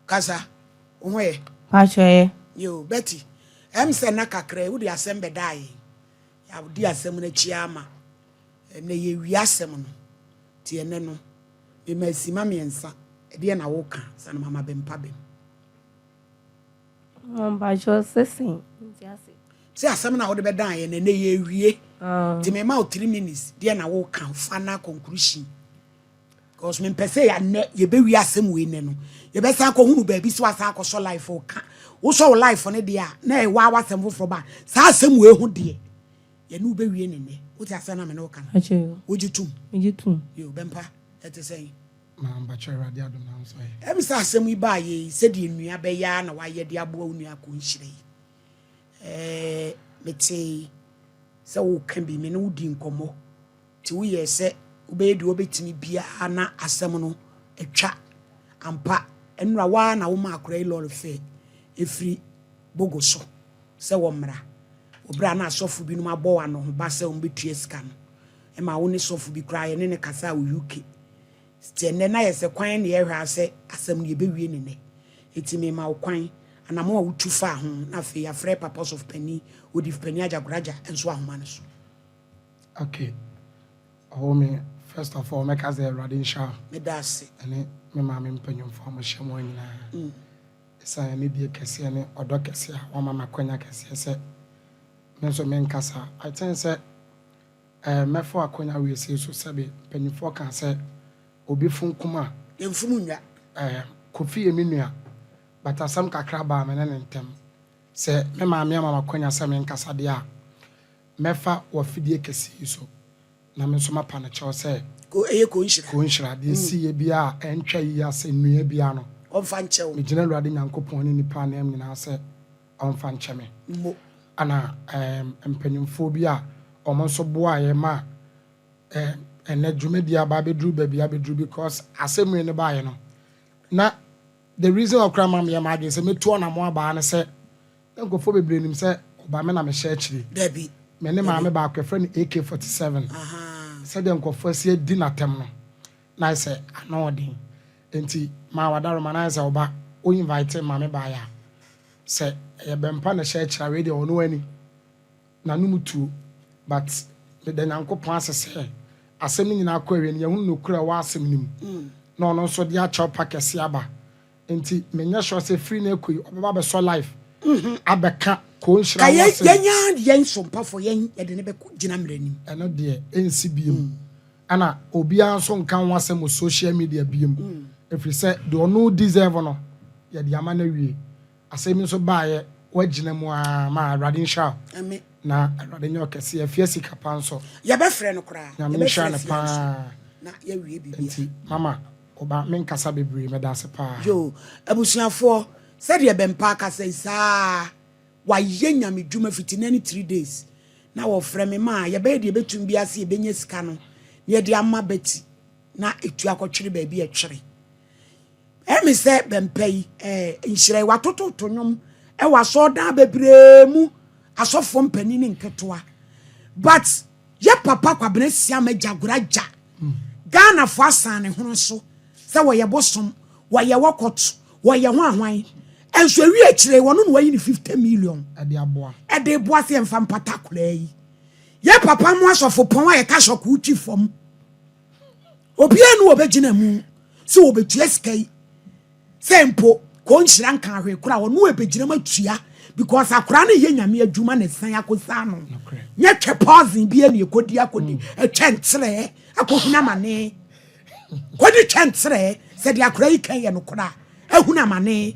Kasa, wo ho ɛ? Mpakyɛ ɛ? Yoo, Betty, ɛm sɛ na kakra yi wode asɛm bɛdaa yɛn. Yɛadi asɛm no akyi ara ma ɛnɛ yɛawie asɛm no. Nti ɛnɛ no, mema asima mmiɛnsa, ɛdeɛn na woka ansa na mama bɛmpa bem? Mo mpakyɛ sɛ sɛn? Nti ase. Sɛ asɛm no a wode bɛdaa yɛn no ɛnɛ yɛawie. Nti mema wo three minutes, deɛn na woka, final conclusion. Because me mpɛ sɛ yɛanɛ yɛbɛwie asɛm wei nɛ no yɛbɛsan akɔhunu baabi sɛ wasan akɔsɔ life ka wosɔ wo life no deɛ a na ɛwɔ a wasɛm foforɔ ba saa asɛm wei ho deɛ yɛne wobɛwie ne nnɛ wote asɛm na me ne woka no wogye tom megye tom yo bɛmpa ɛte sɛn mampakyɛ awurade adom na nso ayɛ ɛm sɛ asɛm yi baa yɛ yi sɛdeɛ nnua bɛyɛ a na wayɛ de aboa wo nua akɔ nhyira yi ɛɛ metee sɛ woka bi me ne wodi nkɔmmɔ Enti woyɛɛ sɛ wobɛyɛ deɛ wobɛtumi biara na asɛm no atwa. Ampa, ɛnora wo ara na womaa akwadaa yi lɔre fee ɛfiri Bogo so sɛ wɔmmra. Wɔ berɛ a na asɔfo binom abɔ wo anohoba sɛ wɔbɛtua sika no, ɛmaa wo ne sɔfo bi koraa yɛne no kasaa wɔ UK. Enti ɛnnɛ na ayɛ sɛ kwan na yɛhwɛ ara sɛ asɛm no yɛbɛwie no nnɛ. Enti mema wo kwan. Anammɔn a wotu faa ho, na afei yɛafrɛ Papa Ɔsɔfopanin Odifpanin Agya Goraja nso ahoma no so. Okay ɔwɔ me first of all mɛka sɛ awurade nhyira wo. Meda ase. Ɛne me maame mpanyinfoɔ a wɔhyɛ mu nyinaa. Mm. Ɛsan yɛ ne die kɛseɛ ne ɔdɔ kɛseɛ a wɔama me akwanya kɛseɛ sɛ me nso menkasa. I think sɛ ɛɛ mɛfo akwanya wei sei so sɛbe mpanyinfoɔ kaa sɛ obi funkum a. Yɛmfunu nnwa. Ɛɛ Kofi yɛ me nua but asɛm kakra baa me ne ne ntam. Sɛ me maame ama me akwanya sɛ menkasa deɛ a. Mɛfa w'afidie kɛse yi so, na me nso mapa no kyɛw sɛ. Ko, ɛyɛ ko nhyira. Ko nhyira. Deɛ ɛsiiɛ biara a ɛntwa yi ara sɛ nnua biara no. Ɔmfa nkyɛ wo. Megyina Awurade Nyankopɔn ne nnipa ananmu nyinaa sɛ ɔmfa nkyɛ me. Mo. Ɛna ɛɛm mpanimfoɔ bi a wɔn nso boaeɛ ma ɛɛm ɛnɛ dwumadie aba abɛduru baabi abɛduru because asɛmmire no baeɛ no, na. The reason a ɔkura ma meyɛ m'adwene sɛ mɛtu ɔnamɔn abaa ne sɛ na nkurɔfoɔ bebree nim sɛ ɔba me na mehyɛ akyire. Dabi. Me ne maame baako yɛfrɛ no AK-47. Ahaa. Sɛdeɛ nkurɔfoɔ asi adi no atɛm no, na ayɛ sɛ ano wɔ den. Enti maa w'adaroma no ayɛ sɛ ɔba. Wo invite ma me baeɛ a, sɛ ɛyɛ bɛmpa na ɛhyɛ akyire a, wei deɛ ɔno ani. N'anom tuo but meda Nyankopɔn ase sɛ asɛm no nyinaa kɔ awiei no yɛahunu nokorɛ a ɛwɔ asɛm no mu na ɔno nso de akyɛw pa kɛseɛ aba nti menyɛ sure sɛ firi no ɛkɔ yi ɔbɛba abɛsɔ live abɛka Koo Nhyira ho asɛm. Yɛn ara yɛn sompafoɔ yɛn yɛde no bɛkɔ gyina mmara anim. Ɛno deɛ ɛnsi biom ɛna obiara nso nka ho asɛm wɔ social media biom ɛfiri sɛ deɛ ɔno deserve no yɛde ama no awie Asɛm yi nso baeɛ woagyina mu aa ma awurade nhyira wo Amen. na awurade nyɛ wo kɛseɛ afia sika pa nso Yɛbɛfrɛ no koraa. nyame nhyira Yɛbɛfrɛ no afia paa nso na yɛawie biribiara. nti mama woba menkasa bebree medase paa. Yo, abusuafoɔ, sɛdeɛ Bɛmpaa kasa yi, saa ara, wayɛ Nyame dwuma fiti nnɛ ne three days, na wɔfrɛ me ma yɛbɛyɛ deɛ yɛbɛtumi biara sɛ yɛbɛnya sika no na yɛde ama Betty na ɛtu akɔtwere baabi a ɛtwere. Ɛne sɛ bɛmpa yi eh, nhyerɛe watototo nnwom wɔ asɔɔdan bebree mu asɔfoɔ mpanin ne nketewa but yɛ papa kwabena siam agya goragya ghanafoɔ asan ne hono so sɛ wɔyɛ bosom wɔyɛ wɔkɔt wɔyɛ ho ahwan ɛnso ɛwi akyire wɔno na wɔyi ne 50 million ɛde boa sɛ yɛmfa mpata koraa yi yɛ papa mo asɔfo pɔn a yɛka sɔko twi fam obiara ne wɔbɛgyina mu sɛ wɔbɛtua sika yi sɛ mpo kɔ nhyira nka ahwee kora ɔno ɛbɛgyina mu atua because akora no yɛ nyame adwuma na ɛsan akɔsaa no nyɛ twɛ pɔsen bi ne ɛkɔdi akɔdi ɛtwɛ mm. nkyerɛ akɔhunu amane kɔdi twɛ nkyerɛ sɛ deɛ akora yi kan yɛ no kora ahunu amane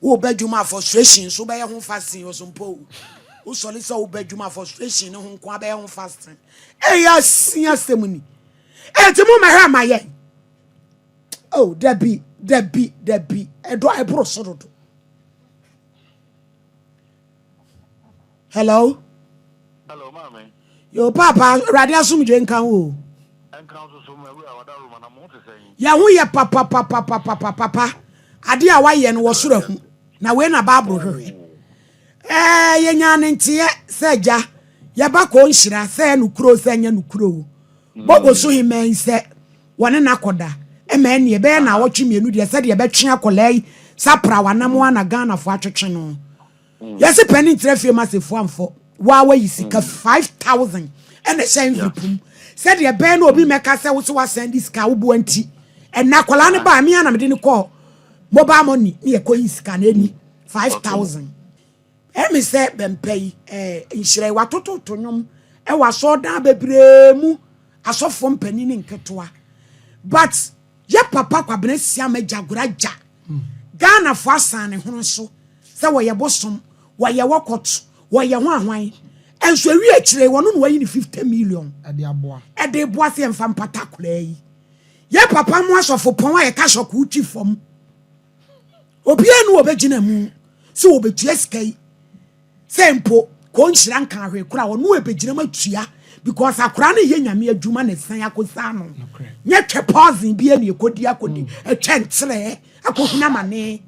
Wo ba adwuma a frustration nso bɛyɛ ho fasting ɔso mpo o. Wo sɔre sɛ wo ba adwuma frustration ne ho nko abɛyɛ ho fasting. Ɛyɛ asin asɛm ni. Ɛti mo mɛhwɛ ma yɛn. Oh, dabi, dabi, dabi. Ɛdɔ ɛboro so dodo. Hello. Hello, maame. Yo, papa, awurade asomdwe nka wo. Nka nso so ma awura wada roma na mo te sɛ yi. Yɛ ho yɛ papa papa papa papa. Ade a wayɛ no wɔ soro ahu. Na wei na Bible hwehwɛ. Eh, yɛ nya ne nteɛ sɛ gya. Yɛ ba kɔ nhyira sɛ no kuro sɛ nyɛ no kuro. Bogo so he mɛn sɛ. wɔne no akɔda ma ɛnneɛ ɛbɛyɛ naawɔtwe mmienu deɛ sɛdeɛ ɛbɛtwe akwadaa yi sa pra wanam a na ghanafoɔ atwetwe no mm. yɛse pɛ ne nkyerɛ fie ma sefoɔ amfɔ waa wayi sika mm. five thousand ɛna ɛhyɛ mfipum sɛdeɛ ɛbɛyɛ na obi mmɛka sɛ wo so wasɛn de sika woboa nti ɛna akwadaa no baa me anamde no kɔɔ mobile money ne yɛkɔyi sika no ɛni five thousand Ɛmi sɛ bɛmpa yi ɛɛ nhyira yi watototo nnwom ɛwɔ asɔɔdan bebree mu asɔfoɔ mpanin ne nketewa but yɛ papa kwabena siam agya gora gya hmm. Ghana fo asan ne hono so sɛ wɔyɛ bosom wɔyɛ wɔkɔt wɔyɛ ho ahwan ɛnso ewi akyire wɔn no wɔyi ne fifty million ɛde aboa ɛde aboa sɛ yɛn fa mpata koraa yi yɛ papa mo asɔfo pɔn a yɛka sɔkoo twi fam. obiara ni wɔbɛgyina mu sɛ wɔbɛtua sika yi sɛ mpo kɔnhyira nka ahwɛ kora ɔno ɛbɛgyina mu atua because akora no yɛ nyame adwuma na ɛsan akɔsa no nyɛ twɛ pɔsen bi ne ɛkɔdi akɔdi ɛtwɛ mm. nkyerɛ akɔhunu amane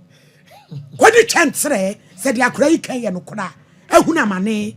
kɔdi twɛ nkyerɛ sɛ deɛ akora yi kan yɛ no kora ahunu amane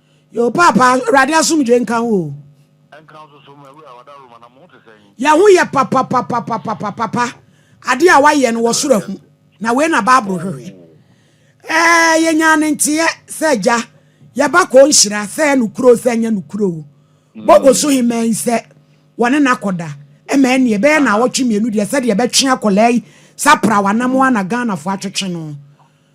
Yo paapa awurade asomdwe nka wo o. Ɛnka nso so ma wura wada Roma na mo ho te sɛn. Yɛ ho yɛ papapapapapapa ade a wayɛ no wɔ soro ahu na wei na bible hwehwɛ ɛɛ yɛ nyaa ne nteɛ sɛ gya yɛ ba kɔɔ nhyira sɛ yɛ no kuro sɛ nyɛ no kuro o bɔbɔ so he mɛn sɛ wɔne no akɔda ɛmɛ ɛne ɛbɛyɛ na awɔtwe mmienu deɛ sɛ deɛ ɛbɛtwe akɔlaa yi sa pra wanam a na Ghana fo atwetwe no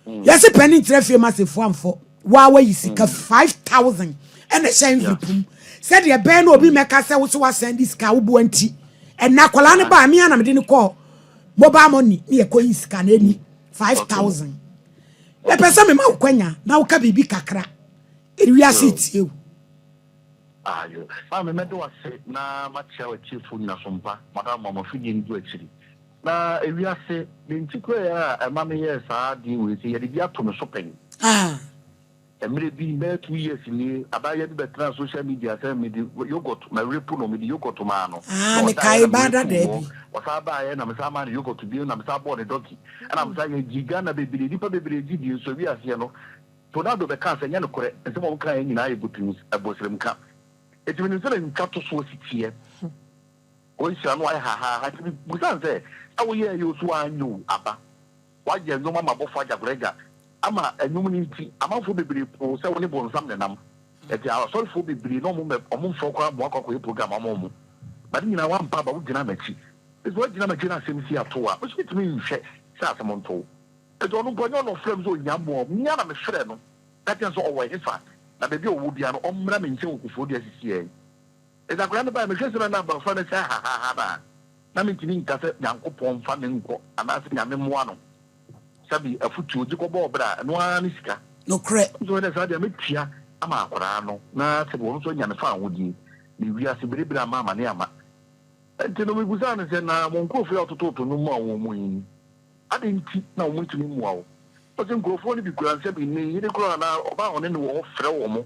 Yɛse panin nkyerɛ fie ma sefo amfɔ waa wayi sika 5000 ɛna ɛhyɛ envelope mu sɛdeɛ ɛbɛyɛ na obi mmɛka sɛ wo so wasɛn de sika woboa nti ɛna akwadaa no baa mea na mede no kɔɔ mobile money ne yɛkɔ yi sika na ɛni 5000 mepɛ sɛ mema wo kwanya na woka biribi kakra ewiase tie wo ayo maa memɛde wase na makyia watiefo nyina so mpa madam mama fidie no gu akyiri Na ewiase ne ntikurae a ɛma meyɛɛ saa ade wei sɛ yɛde bi ato me so pɛn. Mmerɛ bi, bɛyɛ two years nie, abaayewa bi bɛtenaa social media sɛ mede yoghurt, marepu no, mede yoghurt maa no, na ɔdaeɛ na merepu wɔ, ɔsan baeɛ na mesan maa no yoghurt bio na mesan bɔɔ no dɔki, ɛna mesan yɛ gyee Ghana bebree, nnipa bebree gye dii, nso wiaseɛ no, Tonado bɛkaa sɛ ɛnyɛ nokorɛ, nsɛm a wɔkaeɛ nyinaa yɛ botims, ɛboseremka. Enti menim sɛdeɛ ntwatosoɔ si teɛ. Wonhyira no ayɛ hahaaha nti mebisa no sɛ, a woyɛɛ yoo so w'anyow aba? W'ayɛ nnwom ama abɔfo agyagoragya ama nnwom no nti amanfoɔ bebree poo sɛ wone bonsam na ɛnam. Ɛti asɔrefoɔ bebree na ɔmo mɛ ɔmo mfoɔ koraa mmoa kɔ akɔyɛ program ama ɔmo. But ne nyinaa w'ampa aba wogyina m'akyi. Ɛti w'agyina m'akyi na asɛm si atow a me nso metumi nhwɛ sɛ asɛm ntow. Ɛti ɔno mpo ɛnyɛ ɔna ɔfrɛ me sɛ ɔhia mmoa o, me ara na me frɛ no ka kyerɛ no sɛ ɔwɔ ɛhefa na baabi a ɔwɔ biara no ɔmmra me nkyɛn wɔ Koforidua sisi ɛɛ. Enti akwadaa no bae, mehwɛɛ sɛdeɛ na abɔfra no hyɛ hahaha no a, na mentumi nka sɛ Nyankopɔn mfa no nkɔ anaasɛ Nyame mmoa no. Sabi, afutuo, gye kɔ bɔɔ bra, ɛno ara ne sika. Nokorɛ. Nso ɛnɛ saa deɛ mɛtua ama akwadaa no na sɛdeɛ ɔno nso anya ne fawohodie ne wiase berebere ama amane ama. Enti no mebusaa no sɛ, Na mo nkorɔfoɔ yi a wototoo to nnwom maa wɔn yi, adɛn nti na wɔn ntumi mmua wo? Ɔse, Nkorɔfoɔ no bi kura nsa bi, ne yere koraa na ɔbaa ɔne no wɔ hɔ frɛ wɔn.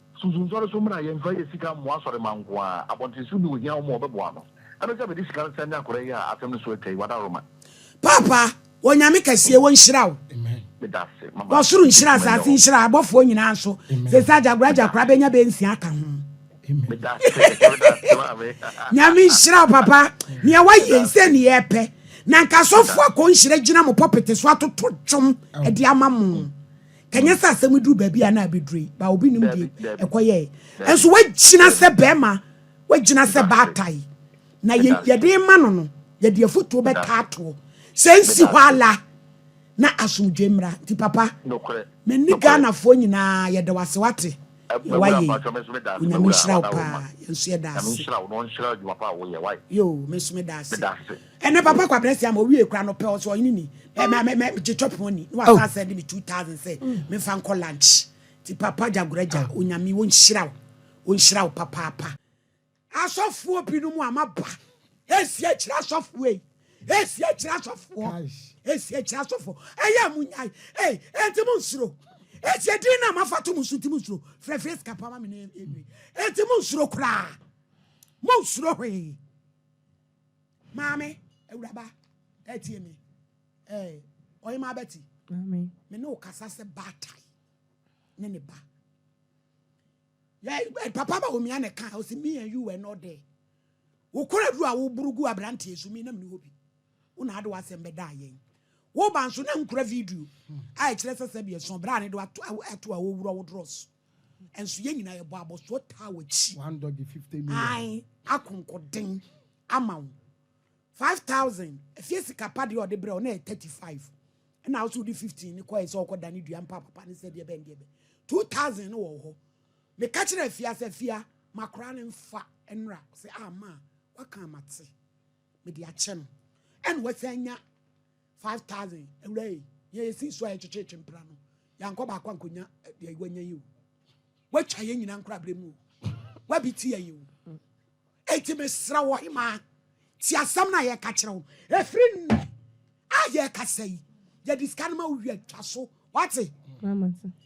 Susu nsɔre so mmra, yɛmfa yɛ sika mmoa asɔremma nko ara, abɔntenso bi ohia wɔn a wɔbɛboa no. Ɛbɛ sɛ bɛde sika no san nya kora yi a asɛm no so atwa yi, Wadaroma. Paapa Onyame kɛseɛ wɔ nhyira wo wɔ soro nhyira asase nhyira abɔfoɔ nyinaa nso sese agyagora gyakora bɛnya bɛ nsia aka ho Nyame nhyira wo papa nea wayɛ nsɛ ne yɛ pɛ na nka asɔfoɔ akɔ nhyira gyina mo pɔpete so atoto dwom ɛde ama mo Ɛnyɛ sɛ asɛm duru baabi a na abɛduru yi, ba obi nim deɛ ɛkɔyɛe. Nso wagyina sɛ bɛrima, wagyina sɛ baatae. Na yɛde ma no no, yɛde afotuo bɛka atoɔ. Sɛ nsi hɔ ala na asomdwe mmra. Nti papa, me ne Ghanafoɔ nyinaa yɛda wo ase wate. Yɛ wayɛ yi, Onyame nhyira wo paa. Yɛn nso yɛda ase. Yoo, me nso meda ase. ɛnɛ papa kwabrɛ si ama owie kura no pɛ ɔsɛ ɔyene ni mɛ mɛ mɛ gye chop ho ni na wasa sɛ de mi two thousand sɛ mefa nkɔ lunch ti papa gyagoragya onyame wɔnhyira wo wɔnhyira wo papaapa asɔfoɔ binom a maba ɛsi akyiri asɔfoɔ yi ɛsi akyiri asɔfoɔ ɛsi akyiri asɔfoɔ ɛyɛ a mo nyae ɛyi ɛnti mo nsuro ɛsi adin no a mafa to mo so nti mo nsuro frɛfrɛ sika pa ma me ne ɛnti mo nsuro koraa mo nsuro hwee maame awuraba ɛtie me ɛɛ ɔyɛ maa bɛti me ne o kasa sɛ baatae ne ne ba yɛ papa ba omia ne kan ɔsi me and you were not there wokora duro a woburu gu aberanteɛ so mi nam ne hɔ bi wona ade wasɛm bɛda ayɛn woba nso na nkura video a ɛkyerɛ sɛ sɛ deɛ sɔn berɛ a ne do ato a wɔwura wo dorɔ so Nso yɛn nyinaa yɛbɔ abɔsoɔ taa w'akyi. One dodge fifty million. Ae akonkoden ama wo. Five thousand efie sika pa deɛ ɔde brɛ wo na yɛ thirty five. Ɛna wo so wode fifteen ne kɔɛ sɛ ɔkɔ da ne dua mpa papa ne sɛ deɛ bɛn deɛ bɛn. Two thousand no wɔ wo hɔ. Meka kyerɛ afia sɛ afia makora ne mfa nnora sɛ a ah, ma waka amate mede akyɛ no ɛna wasan nya Five thousand awura yi yɛn yɛ si so a yɛkyekyekye mpena no yankɔ baako ankonya deɛ eh, wanya yi o watwa yɛn nyinaa nkora abere mu o wabi ti yɛ yi o eti mesra wɔ hemaa ti asɛm na yɛka kyerɛ wo efiri nnɛ a yɛkasa yi yɛde sika no ma wowie atwa so wate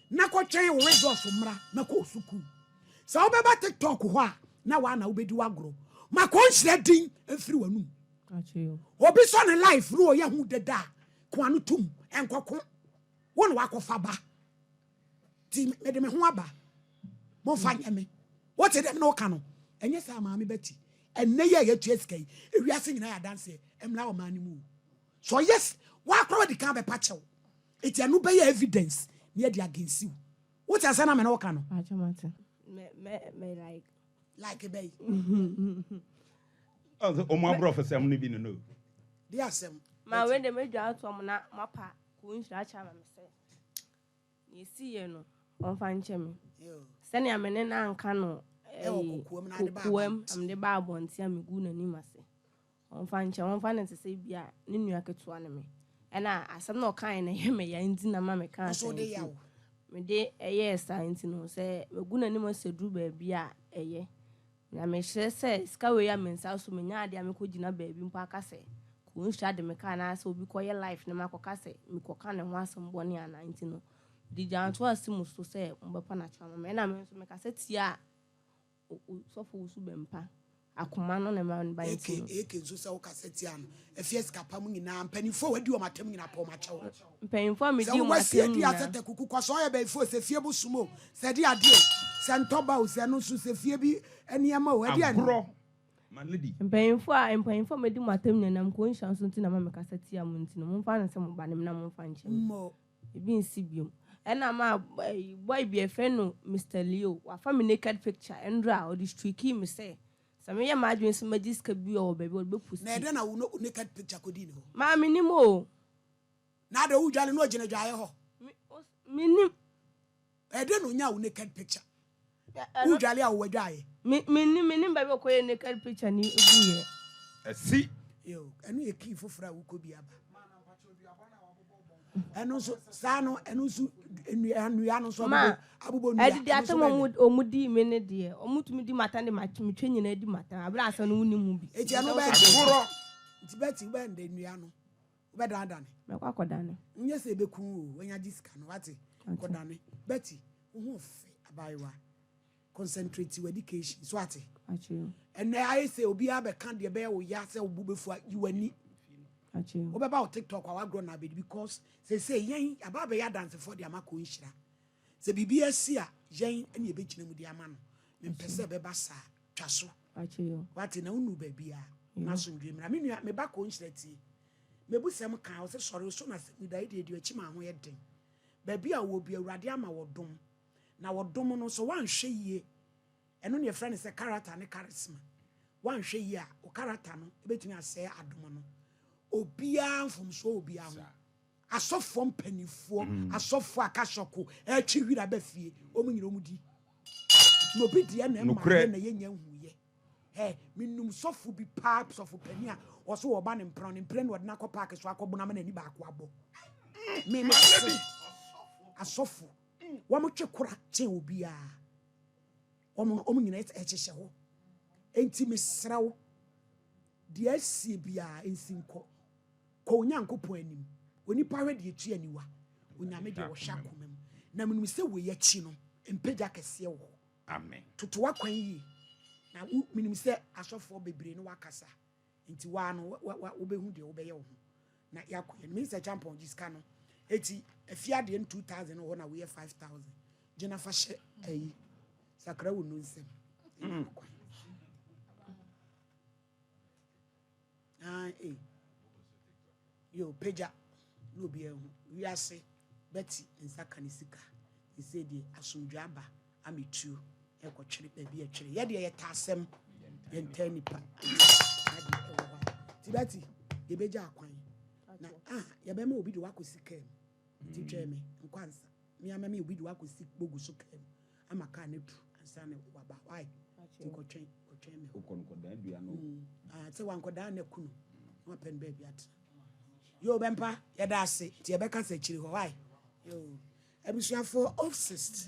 na kɔtwɛn wo results mmra na kɔɔ sukuu sɛ wobɛba tiktok hɔ a na waa na wobɛdi wagorɔ ma kɔnhyira din mfiri w'anum Obi sɔ ne life no ɔyɛ ho deda a ko ano tum nkɔko wo na wakɔfa ba ti mede me ho aba momfa nyɛ me wote dɛm na woka no ɛnyɛ saa maame ba ti ɛnɛ yɛ yɛtua sika yi ewiase nyinaa yɛ adanseɛ mmra ɔman no mu so yes woakora wadi kan bɛpa kyɛw ɛti ɛno bɛyɛ evidence ne ɛde agensiw wote asɛ na me ne woka no like bɛyi. ɔsɛ ɔmo aborɔfo sɛm no bi no no de asɛm ma wei de medwa ato ɔmo na moapa kuu nhyira akyɛ ama me sɛ na ɛsi yɛ no ɔmfa nkyɛ me sɛnea me ne no anka no kokoam na mede ba abɔnten a megu n'anim ase Wɔmfa nkyɛ, wɔmfa no te sɛ ebia ne nua ketewa ne me, ɛnna asɛm no a ɔkae no yɛ me ya nti na ɛma mekaa Nso wode asɛm yaw. nti mede yɛɛ saa nti no, sɛ magu n'anim ase aduru baabi a, ɛyɛ. Na mesrɛ sɛ sika wei a me nsa so menya adeɛ a mekɔgyina baabi mpo aka sɛ kɔnhyira de me kaa anaasɛ obi kɔyɛ life na makɔka sɛ mekɔka ne ho asɛm bɔne anaa nti no, mede gyaa ntoa si mo so sɛ mobɛpa no akyɛw ama me. Ɛnna me nso mekasa tiaa Osɔfo wo su bɛn pa akoma no na ɛma ne ba nti no. Eke nso sɛ wokasa tia no ɛfie sika pa mu nyinaa mpanyinfoɔ a wadi wɔn atam nyinaa pɛ wɔn akyɛ wo mpanyinfoɔ a medi wɔn atam nyinaa sɛ tɛtɛ kuku kɔ so ɔyɛ bɛyifoɔ sɛ fie bo som o sɛ de adeɛ o sɛ ntɔba o sɛ no nso sɛ fie bi nneɛma o ɛdeɛ agorɔ ma no bi mpanyinfoɔ a mpanyinfoɔ a medi wɔn atam nyinaa nam kɔnhyia nso nti na ma mekasa tia mo nti no momfa no sɛ mo ba ne me na momfa nkyɛ me. Ebi nsi biom. Ɛna ma boy bi yɛfrɛ no Mister Leo, wafa me naked picture ɛnora a ɔde streakii me sɛ sɛ meyɛ m'adwene sɛ magye sika bi wɔ baabi a ɔde bɛ posti. Na ɛdɛn na wo ne wo naked picture kɔdii ne hɔ? Maa menim o. Na adɛn wodwale na ɔgyina dwaeɛ hɔ? Me, os, menim. Ɛdɛ na onyaa wo naked picture? Wo dwale a ɔwɔ dwaeɛ. Me me ni me ni baabi ɔkɔ yɛ naked picture ni egu yɛ. Ɛsi. Yo ɛno yɛ kii foforɔ a wokɔ bi aba. Ɛno nso saa no ɛno nso nnua nnua no nso abobɔ abobɔ nnua. Ɛdi di asɛm wɔn wɔn di mi ne deɛ wɔn tumi di mata ne ma tumi twɛ nyinaa di mata abira asɛm no wɔn ni mu bi. Eti ɛno bɛyɛ. Ɛhorɔ. Nti bɛti bɛyɛ ndɛ nnua no. Wobɛdanedane. Mɛkɔ akɔdane. Nyɛ sɛ ebeku wo o, wanya gye sika no, wate? Kɔdane. Betty, wo ho fɛ, abaayewa. Concentrate w'education so, wate? Akyere. Ɛnɛ ayɛ sɛ obiara bɛka deɛ ɛbɛyɛ wo ya sɛ wo bo bɛfu a, yi w'ani. Akyere. Wobɛba wo TikTok a wagorɔ na abɛdi because seesei yɛn aba abɛyɛ adansefoɔ de ama kɔ nhyira. Sɛ biribi asi a, yɛn ne yɛbɛgyina mu de ama no. Mempɛ sɛ ɛbɛba saa. Twa so. Wate, na wonu baabi a, na asomdwe mmra. Me nua, meba kɔ nhyira tie. Mebusɛm kaa, ɔsɛ sɔre, so na sɛ meda yi deɛ deɛ akyi maa ho yɛ den. Baabi a ɔwɔ bi, Awurade ama wɔdom. Na wɔdom no, sɛ woanhwɛ yie, ɛno ne yɛfrɛ no sɛ character ne charisma. Woanhwɛ yie a, wo character no bɛtumi asɛe adom no. Obiara mfomsoɔ wɔ obiara ho. Asɔfoɔ mpanimfoɔ, mm. asɔfoɔ akasɔko, ɛtwe wira aba fie, wɔn nyina wɔn di. Na obi deɛ na ɛma yɛ na yɛnya nhuyɛ. Ɛ menum sɔfo bi paa sɔfo panin a ɔso wɔ ɔba ne mpena ne mpena na ɔde n'akɔ paaki so akɔ bonam na ani baako abɔ. Me me se asɔfo wɔn twe kora kyɛn obiara. Wɔn, wɔn nyina yɛ ɛhyehyɛ hɔ. Enti mesrɛ wo, deɛ asie biara nsi nkɔ. Kɔ Onyankopɔn anim. Onipa hwɛ deɛ ɛtua aniwa, Onyame deɛ ɔhwɛ akoma mu. Na menim sɛ wei akyi no, mpagya kɛseɛ wɔ hɔ. Amen. Toto w'akwan yie. Na wo, menim sɛ asɔfoɔ bebree ne wo akasa. Nti waa no wobɛhu deɛ wobɛyɛ wo ho na yɛakɔ yɛn. Minis Acheampong gye sika no eti ɛfi adeɛ no two thousand wɔ na woyɛ five thousand gyina fa hyɛ ayi sakra wo nu nsɛm. Ah, eh. Yoo pagya na obiara nhu. Wiase bɛte nsa ka ne sika. Seesei deɛ asomdwoe aba ama etuo rekɔtwere baabi a ɛtwere. Yɛ deɛ yɛtaa asɛm yɛntaa nnipa ade wɔ hɔ a. Nti Betty yɛbɛgya akwan na ah yɛbɛma obi de wakɔsi kaa mu. Nti twɛn me nkwansa me ama me obi de wakɔsi bogu so kaa mu. ama car no atu ansa na waba why nti kɔtwɛn kɔtwɛn me wokɔ no kɔdan dua no mm. ah, sɛ wankɔdan no aku no na wapɛ no baabi atena yo bɛmpa yɛda ase nti yɛbɛka sɛ akyiri hɔ why yo abusuafoɔ obsist